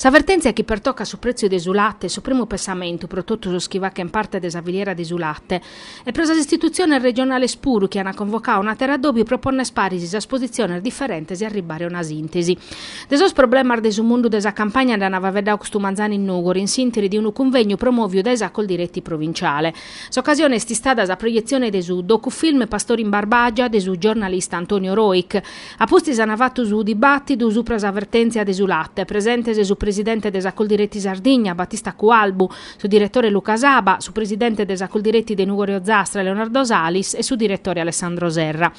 Sa vertèntzia chi pertocat su prètziu de su late est su primu pensamentu pro totu sos chi fachent parte de sa filiera de su late e pro sas istitutziones regionales puru chi ant convocadu un'àteru addòbiu pro ponner paris sas positziones diferentes e arribbare a una sìntesi. De sos problemas de su mundu de sa campagna nd'an faeddadu custu manzanu in Nùgori in s'ìnteri de unu cunvègniu promòviu dae sa Coldiretti provinciale. S'ocasione est istada sa proietzione de su docufilm Pastori in Barbagia de su giornalista Antonio Rojch, A pustis an fatu su dibàtidu supra sa vertèntzia de su late, presentes su presidente de sa Coldiretti Sardigna, Battista Cualbu, su diretore Luca Saba, su presidente de sa Coldiretti de Nùgoro Ozastra, Leonardo Salis, e su diretore Alessandro Serra.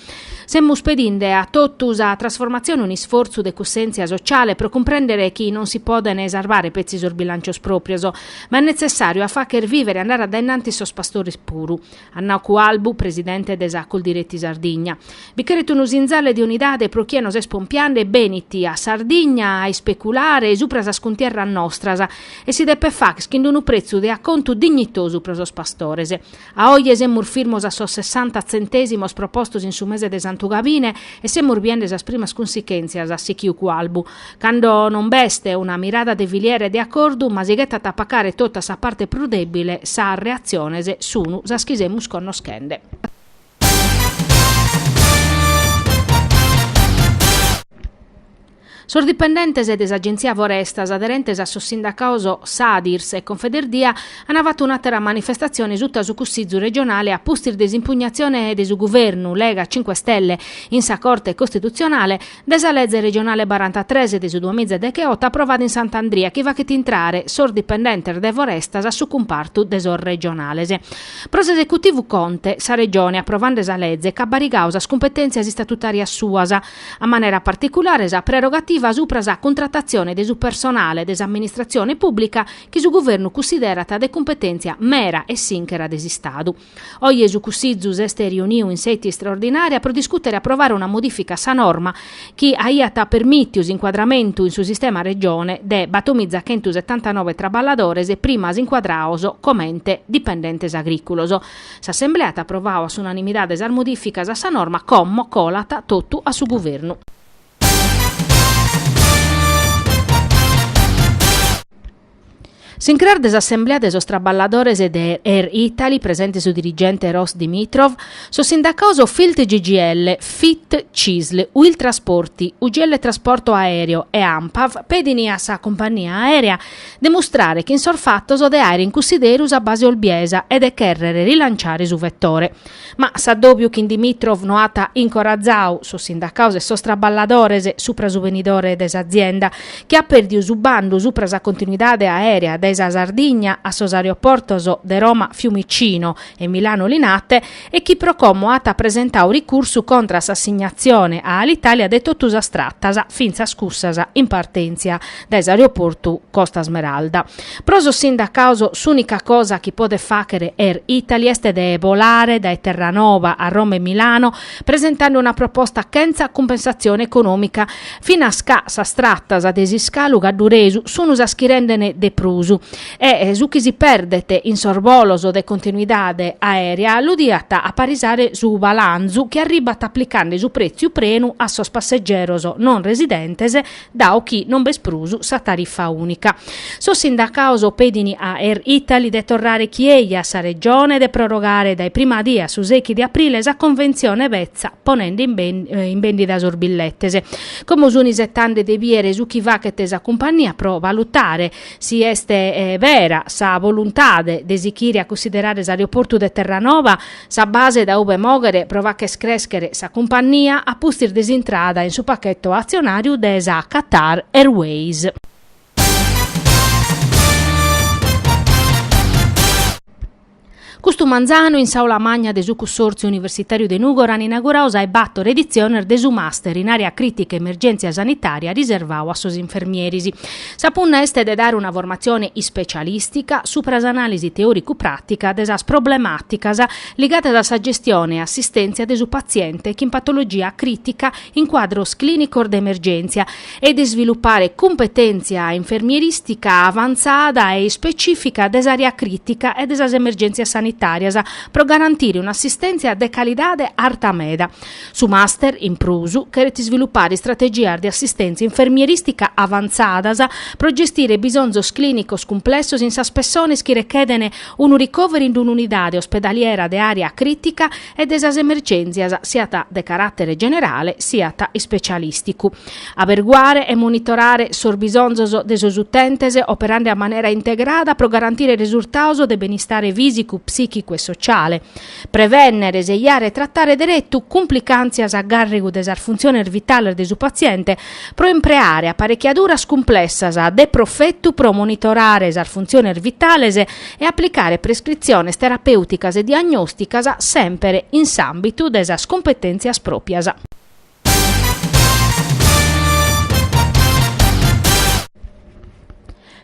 Semus pedinde a totu sa trasformatzione un'isfortzu de cussèntzia sociale pro cumprèndere chi non si podent sarvare petzi sos bilancios pròpios, ma est netzessàriu a fàghere vìvere e andare a dae innantis sos pastores puru. at nau Cualbu, presidente de sa Coldiretti Sardigna. Bi cheret unu sinzale de unidade pro chie nos est pompiande benit a Sardigna e ispèculat supra sas cuntierras nostras e si depet fagher chin d'unu pretzu de acontu dignitosu pro sos pastores. A oje semus firmos a sos sessanta tzentèsimos propostos in su mese de Santu Gavine e semus biende sas primas cunsichèntzias, at sichiu Cualbu. Cando non b'est una mirada de filiera e de acordu, ma si ghetat a pacare totu a sa parte prus dèbile, sas reatziones sun sas chi semus connoschende. Sos dipendentes de s'Agenzia Forestas, aderentes a sos sindacaos Sadirs e Confederdia, an fatu un'àtera manifestatzione suta su Cussizu regionale a pustis de s'impugnazione de su Guvernu Lega-Cinque Stelle in sa Corte Costitutzionale, De sa leze regionale barantatres de su duamiza decheotu aprovada in Sant'Andria chi fachet intrare sos dipendentes de Forestas a su cumpartu de sos regionales. Pro s'esecutivu Conte, sa Regione aprovande sa leze ch'at barigadu sas cumpetèntzias istatutàrias suas, a manera particulare sa prerogativa subra sa cuntratatzione de su personale de s'amministratzione pùblica chi su Guvernu cussiderat de cumpetèntzia mera e sìnchera de s'Istadu. Oje su Cussizu s'est riuniu in seti istraordinària pro discùtere e aprovare una modìfica a sa norma chi aiat permìtiu s'incuadramentu in su sistema Regione de batomizachentusetantanove traballadores primas incuadrados comente dipendentes agrìculos. S'Assemblea at aprovadu a s'unanimidade sas modìficas a sa norma como colat totu a su Guvernu. S'incras de s'assemblea de sos traballadores de Air Italy, presente su dirigente Rossen Dimitrov, sos sindacaos Filt CGIL, Fit Cisl, Uil Trasporti, UGL Trasporto Aereo e Anpav pedin a sa cumpagnia aèrea de mustrare chin sos fatos de àere in cussideru sa base olbiesa e de chèrrere rilanciare su vetore. Ma s'addòbiu chin Dimitrov no at incorrazau sos sindacados e sos traballadores supra su benidore de s'azienda, chi at pèrdiu su bandu supra sa continuidade aèrea dae sa Sardigna a sos aeroportos de Roma Fiumicino e Milano Linate e chi pro como at presentau ricursu contra s'assignatzione a Alitalia de totu sas tratas, fintzas cussas in partèntzia. dae s'aeroportu Costa Smeralda. Pro sos sindacados s'ùnica cosa chi podet fàghere Air Italy est de bolare dae Terranova a Roma e Milano presentande una proposta chentza cumpensatzione econòmica, finas ca sas tratas de s'iscalu cadduresu sun sas chi rendene de prus e su chi si perdet in sos bolos de continuidade aèrea lu diat aparisare su balanzu chi arribat aplicande su prètziu prenu a sos passegeros non residentes dau chi non b'est prus sa tarifa ùnica. Sos sindacados pedint a Air Italy de torrare chi ei a sa Regione e de prorogare dae prima dia su sechi de aprile sa conventzione petza ponende in bèndida sos billetes. Como sunt isetande de bìere su chi fachet sa cumpannia pro valutare si est bera sa voluntade de sichire a cussiderare s'aeroportu de Terranova, Sa base da ube moghere pro facher crèschere sa cumpannia a pustis de s'intrada in su pacheto atzionàriu de sa Qatar Airways. Custu manzanu in s'Aula Magna de su Cussòrtziu Universitàriu de Nùgoro an inaguradu sas bator editziones de su Master in Àrea Crìtica e Emergèntzia Sanitària riservadu a sos infermieris. Sa punna est de dare una formatzione ispecialìstica supra s'anàlisi teòricu-pràtica de sas problemàticas ligadas a sa gestione e assistèntzia de su patziente chin patologia crìtica in cuadros clìnicos de emergèntzia e de isvilupare cumpetèntzia infermierìstica avantzada e ispecìfica de s'àrea crìtica e de sas emergèntzias sanitàrias pro garantire un'assistèntzia de calidade arta meda. Su Master, in prus, cheret isvilupare istrategias de assistèntzia infermierìstica avantzadas pro gestire bisonzos clìnicos cumplessos in sas pessones chi rechedent unu ricoveri in d'un'unidade ospedaliera de àrea crìtica e de sas emergèntzias siat de caràtere generale siat ispecialìsticu. Aberguare e monitorare sos bisonzos de sos utentes operande a manera integrada pro garantire resultados de benistare fìsicu, psìchicu e sociale. Prevènnere, seiare e tratare deretu cumplicàntzias a gàrrigu de sas funtziones vitales de su patziente pro impreare aparechiaduras cumplessas de profetu pro monitorare sas funtziones vitales e aplicare prescritziones terapèuticas e diagnòsticas semper in s'àmbitu de sas cumpetèntzias pròpias.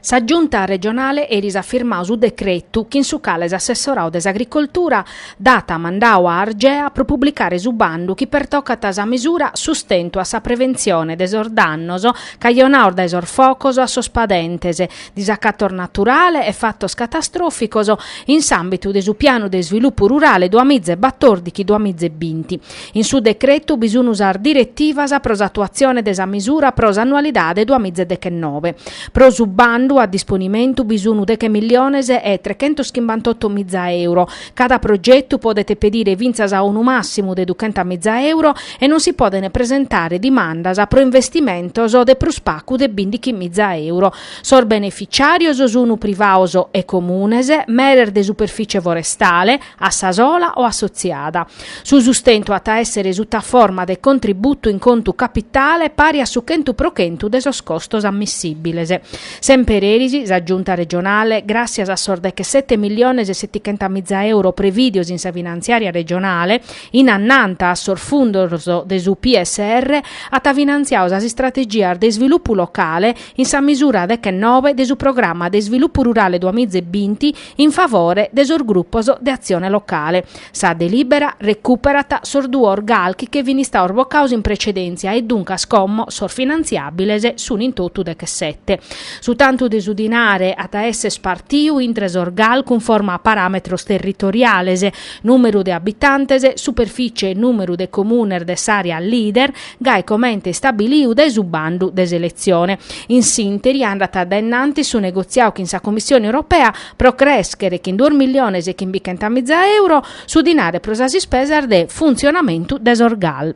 Sa Giunta regionale eris at firmadu su decretu chin su cale s'assessoradu de s'Agricoltura dat mandadu a Argea pro publicare su bandu chi pertocat sa misura Sustentu a sa preventzione de sos dannos cajonados dae sos focos a sos padentes disacatos naturale e fatos catastròficos in s'àmbitu de su Pianu de isvilupu rurale duamiza e batòrdighi-duamiza e binti. In su decretu bi sun sas diretivas pro s'atuatzione de sa misura pro s'annualidade duamìgia e dechennobe. Pro su bandu a disponimentu bi sun deghe milliones e trechentos chimbantotto mìgia euro. Cada progetu podet pedire fintzas a unu màssimu de duchenta mìgia euro e non si podent presentare dimandas pro investimentos de prus pagu de bìndighi mìgia euro. Sos beneficiàrios sun privados e comunes, meres de superfìcie forestale, a sa sola o assotziada. Su sustentu at a èssere suta forma de contributu in contu capitale pari a su chentu pro chentu de sos costos ammissìbiles. Semper eris, sa Giunta regionale, gràssias a sos deghesete milliones e setichenta miza euro prevìdios in sa finantziària regionale, in annanghenta a sos fundos de su PSR, at finantziadu sas istrategias de isvilupu locale in sa misura deghennobe de su Programma de isvilupu rurale duamiza e binti, in favore de sos grupos de atzione locale. Sa delibera recuperat sos duos gal chi che fin istados bocados in pretzedèntzia e duncas como sos finantziabiles sun in totu dechesette. Su tantu de su dinare at a esser spartiu intre sos gal cunforma a parametros territoriales, numeru de abitantes, superficie e numeru de comunes de s'area leader, gai comente istabiliu dae su bandu de seletzione. In s'ìnteri andat dae innantis su negotziau chin sa Commissione Europea pro crèschere chin duos milliones e chimbichenta miza euro su dinare pro sas ispesas de funtzionamentu de sos gal.